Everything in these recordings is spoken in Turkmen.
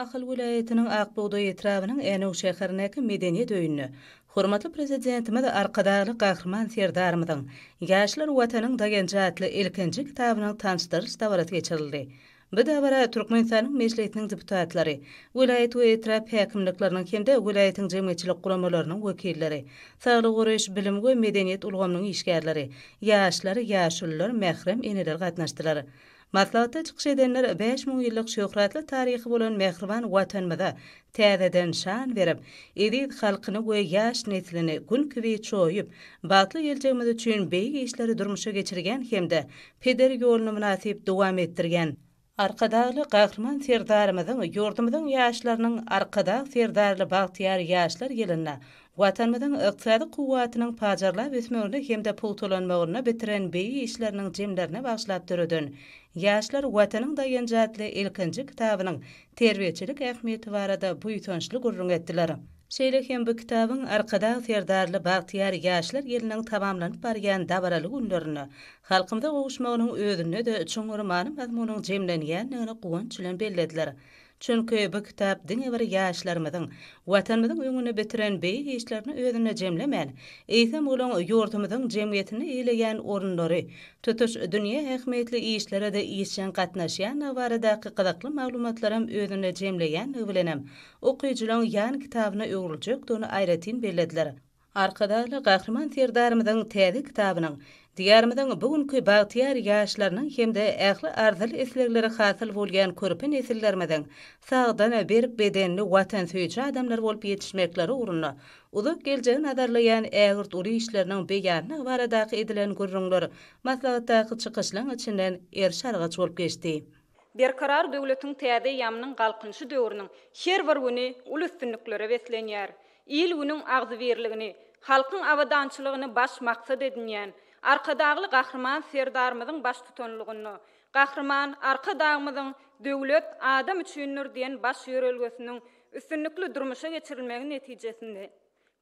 Ahal welaýatynyň Ak bugdaý etrabynyň Änew şäherindäki Medeniýet öýünde hormatly Prezidentimiz Arkadagly Gahryman Serdarymyzyň Ýaşlar Watanyň daýanjy atly ilkinji kitabynyň tanşdyryş dabarasy geçirildi. Bu dabara Türkmenistanyň Mejlisiniň deputatlary, welaýat we etrap häkimlikleriniň hem-de welaýatyň jemgyýetçilik guramalarynyň wekilleri, saglygy goraýyş, bilim we medeniýet ulgamynyň işgärleri, ýaşlar, ýaşulular, mährem eneler gatnaşdylar. Maslahatda çykyş edenler bäş müň ýyllyk şöhratly taryhy bolan mähriban Watanymyza täzeden şan berip, eziz halkyny we ýaş neslini Gün kibi çoýup, bagtly geljegimiz üçin beýik işleri durmuşa geçirýän hem-de peder ýoluny mynasyp dowam etdirýän Arkadagly Gahryman Serdarymyzyň ýurdumyzyň ýaşlarynyň Arkadag Serdarly bagtyýar ýaşlar ýylynda Watanymyzyň ykdysady kuwwatynyň pajarlap ösmegine hem-de pugtalanmagynda bitiren beýik işleriniň jemlerine bagyşlap döreden Ýaşlar, Watanyň daýanjy atly ilkinji kitabynyň terbiýeçilik ähmiýeti barada buýsançly gürrüň etdiler. Şeýle hem bu kitabyň Arkadag Serdarly bagtyýar ýaşlar ýylynyň tamamlanyp barýan dabaraly günlerinde halkymyza gowuşmagynyň özünde-de çuňňur many-mazmunyň jemlenýändigini guwanç bilen bellediler. Çünki bu kitap diňe bir ýaşlarymyzyň Watanymyzyň öňünde bitiren beýik işlerini özünde jemlemän, eýsem olaň ýurdumyzyň jemgyýetinde eýleýän orunlary, tutuş dünýä ähmiýetli işlere-de işjeň gatnaşýandygy baradaky gyzykly maglumatlaram özünde jemleýändigi bilenem okyjylaň ýan kitabyna öwrüljekdigini aýratyn bellediler. Arkadagly Gahryman Serdarymyzyň täze kitabynyň Diýarymyzyň bu günki bagtyýar ýaşlarynyň hem-de ähli arzyly-islegleri hasyl bolýan körpe nesillerimiziň sagdyn, berk bedenli, watansöýüji adamlar bolup ýetişmekleri ugrunda uzak geljegi nazarlaýan ägirt uly işleriniň beýanlygy baradaky edilen gürrüňler maslahatdaky çykyşlaryň içinden eriş-argaç bolup geçdi. Berkarar döwletiň täze eýamynyň Galkynyşy döwrüniň her bir güni uly üstünliklere beslenýär. Il-günüň agzybirligini, halkyň abadançylygyny baş maksat edinýän Arkadagly Gahryman Serdarymyzyň baştutanlygynda Gahryman Arkadagymyzyň Döwlet, adam üçindir! diýen baş ýörelgesiniň üstünlikli durmuşa geçirilmegi netijesinde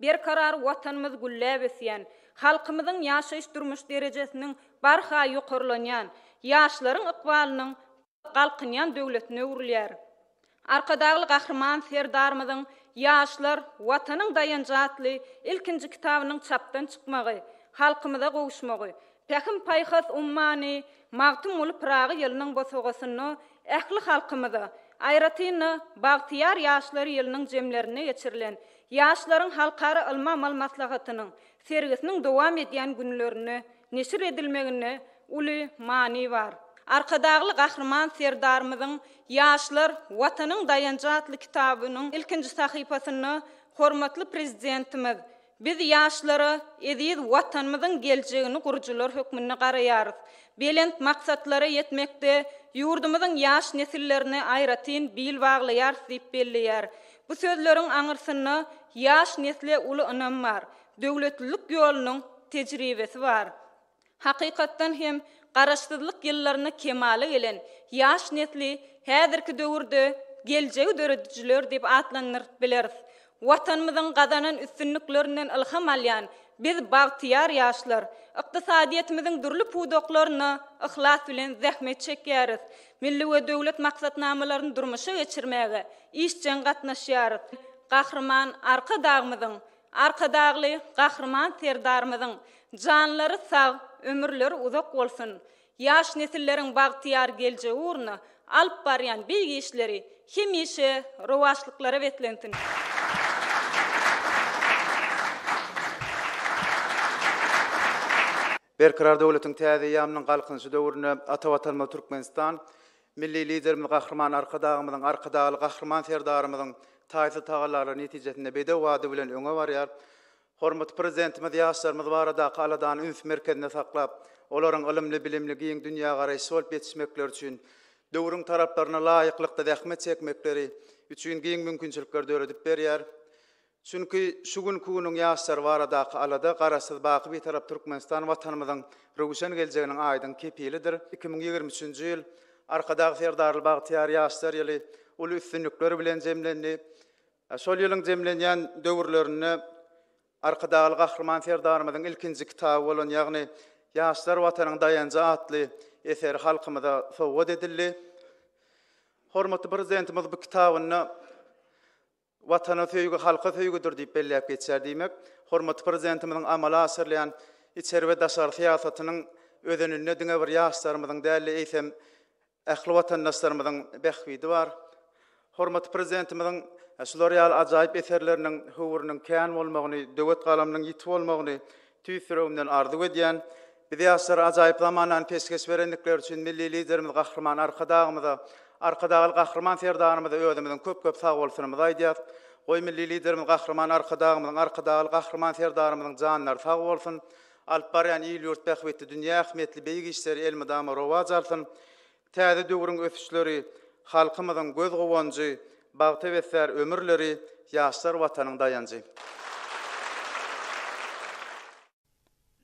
Berkarar Watanymyz gülläp ösýän, halkymyzyň ýaşaýyş-durmuş derejesiniň barha ýokarlanýan, ýaşlaryň ykbalynyň galkynýan döwletine öwrülýär. Arkadagly Gahryman Serdarymyzyň Ýaşlar, Watanyň daýanjy atly ilkinji kitabynyň çapdan çykmagy, halkymyza gowuşmagy, Pähim-paýhas ummany Magtymguly Pyragy ýylynyň bosagasynda ähli halkymyza, aýratyn-da, bagtyýar ýaşlar ýylynyň jemlerinde geçirilen Ýaşlaryň halkara ylmy-amal maslahatynyň sergisiniň dowam edýän günlerinde neşir edilmeginde uly many bar. Arkadagly Gahryman Serdarymyzyň Ýaşlar, Watanyň daýanjy atly kitabynyň ilkinji sahypasynda hormatly Prezidentimiz, Biz ýaşlara eziz Watanymyzyň geljegini gurujylar hökmünde garaýarys. Belent maksatlara ýetmekde ýurdumyzyň ýaş nesillerine aýratyn bil baglaýarys diýip belleýär. Bu sözleriň aňyrsynda ýaş nesle uly ynam bar. Döwletlilik ýolunyň tejribesi bar. Hakykatdan hem, Garaşsyzlyk ýyllarynda kemala gelen ýaş nesli häzirki döwürde geljegi döredijiler diýip atlandyryp bileris. Watanymyzyň gazanan üstünliklerinden ylham alýan biz, bagtyýar ýaşlar, ykdysadyýetimiziň dürli pudaklarynda yhlas bilen zähmet çekýäris, milli we döwlet maksatnamalaryny durmuşa geçirmäge işjeň gatnaşýarys. Gahryman Arkadagymyzyň Arkadagly Gahryman Serdarymyzyň janlary sag, ömürleri uzak bolsun! Ýaş nesilleriň bagtyýar geljegi ugrunda alyp barýan beýik işleri hemişe rowaçlyklara beslensin! Berkarar döwletiň täze eýýamynyň Galkynyşy döwründe ata Watanymyz Türkmenistan, Milli Liderimiz Gahryman Arkadagymyzyň, Arkadagly Gahryman Serdarymyzyň taýsyz tagallalary netijesinde bedew bady bilen öňe barýar. Hormatly Prezidentimiz ýaşlarymyz baradaky aladany üns merkezinde saklap, olaryň ylymly-bilimli, giň dünýägaraýyşly bolup ýetişmekleri üçin, döwrüň talaplaryna laýyklykda zähmet çekmekleri üçin giň mümkinçilikleri döredip berýär. Çünki şu günki günüň ýaşlary baradaky alada Garaşsyz, baky Bitarap Türkmenistan Watanymyzyň röwşen geljeginiň aýdyň kepilidir. Iki müň ýigrimi üçünji ýyl Arkadag Serdarly bagtyýar ýaşlar ýyly uly üstünlikler bilen jemlendi. Şol ýylyň jemlenýän döwürlerinde Arkadagly Gahryman Serdarymyzyň ilkinji kitaby bolan, ýagny Ýaşlar Watanyň daýanjy atly eseri halkymyza sowgat edildi. Hormatly Prezidentimiz bu kitabynda Watana söýgi halka söýgüdir diýip belläp geçýär diýmek, hormatly Prezidentimiziň amala aşyrylýan içeri we daşary syýasatynyň özeninde diňe bir ýaşlarymyzyň däl-de, eýsem, ähli watandaşlarymyzyň bähbidi bar. Hormatly Prezidentimiziň şular ýaly ajaýyp eserleriniň höwrüniň kän bolmagyny, döwet galamynyň ýiti bolmagyny Tüýs ýüregimden arzuw edýän, biz ýaşlara ajaýyp zamanany peşgeş berendikleri üçin Milli Liderimiz Gahryman Arkadagymyza, Arkadagly Gahryman Serdarymyza özümizden köp-köp sagbolsunymyzy aýdýas. Goý, Milli Liderimiz Gahryman Arkadagymyzyň, Arkadagly Gahryman Serdarymyzyň janlary sag bolsun, alyp barýan il-ýurt bähbitli dünýä ähmiýetli beýik işleri elmydama rowaç alsyn! Täze döwrüň ösüşleri, halkymyzyň göz-guwanjy, bagtybesär ömürleri, ýaşlar Watanyň daýanjy.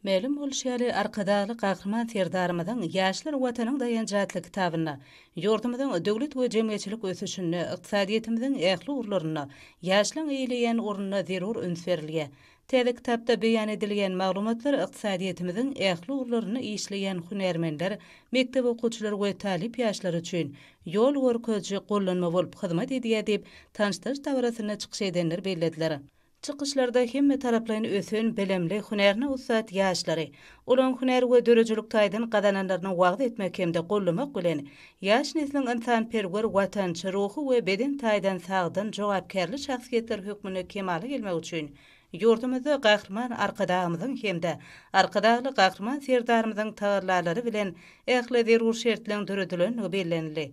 Mälim bolşy ýaly, Arkadagly Gahryman Serdarymyzyň Ýaşlar Watanyň daýanjy atly kitabynda ýurdumyzyň döwlet we jemgyýetçilik ösüşinde, ykdysadyýetimiziň ähli ugurlarynda ýaşlaryň eýeleýän ornuna zerur üns berilýär. Täze kitapda beýan edilýän maglumatlar ykdysadyýetimiziň ähli ugurlarynda işleýän hünärmenler, mekdep okuwçylary we talyp ýaşlar üçin ýol görkeziji gollanma bolup hyzmat edýär diýip, tanyşdyryş dabarasynda çykyş edenler bellediler. Çykyşlarda hemmetaraplaýyn ösen, bilimli, hünärine ussat ýaşlary, olaryň hünär we döredijilik taýdan gazananlaryny wagyz etmek hem-de gollamak bilen, Ýaş nesliň ynsanperwer, watançy, ruhy we beden taýdan sagdyn, jogapkärli şahsyýetler hökmünde kemala gelmegi üçin ýurdumyzda Gahryman Arkadagymyzyň hem-de Arkadagly Gahryman Serdarymyzyň tagallalary bilen ähli zerur şertleriň döredilendigi bellenildi.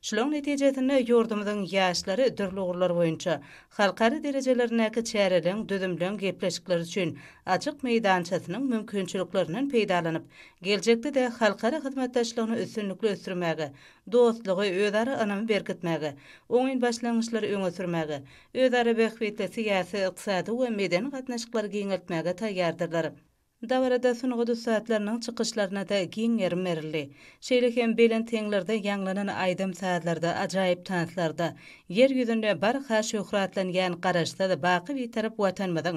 Şularyň netijesinde ýurdumyzyň ýaşlary dürli ugurlar boýunça halkara derejelerindäki çäreleriň, düzümleň, gepleşikler üçin açyk meýdançasynyň mümkinçiliklerinden peýdalanyp, Geljekde-de halkara hyzmatdaşlygyny üstünlikli ösdürmäge, dostlugy, özara ynamy berkitmäge, oňyn başlangyçlary öňe sürmäge, özara bähbitli syýasy, ykdysady we medeni gatnaşyklary giňeltmäge taýýardyrlar. Dabarada sungat ussatlarynyň çykyşlaryna-da giň gerim berildi. Şeýle hem belent heňlerde ýaňlanan aýdym-sazlarda, ajaýyp tanslarda Ýer ýüzünde barha şöhratlanýan Garaşsyz, baky Bitarap Watanymyzyň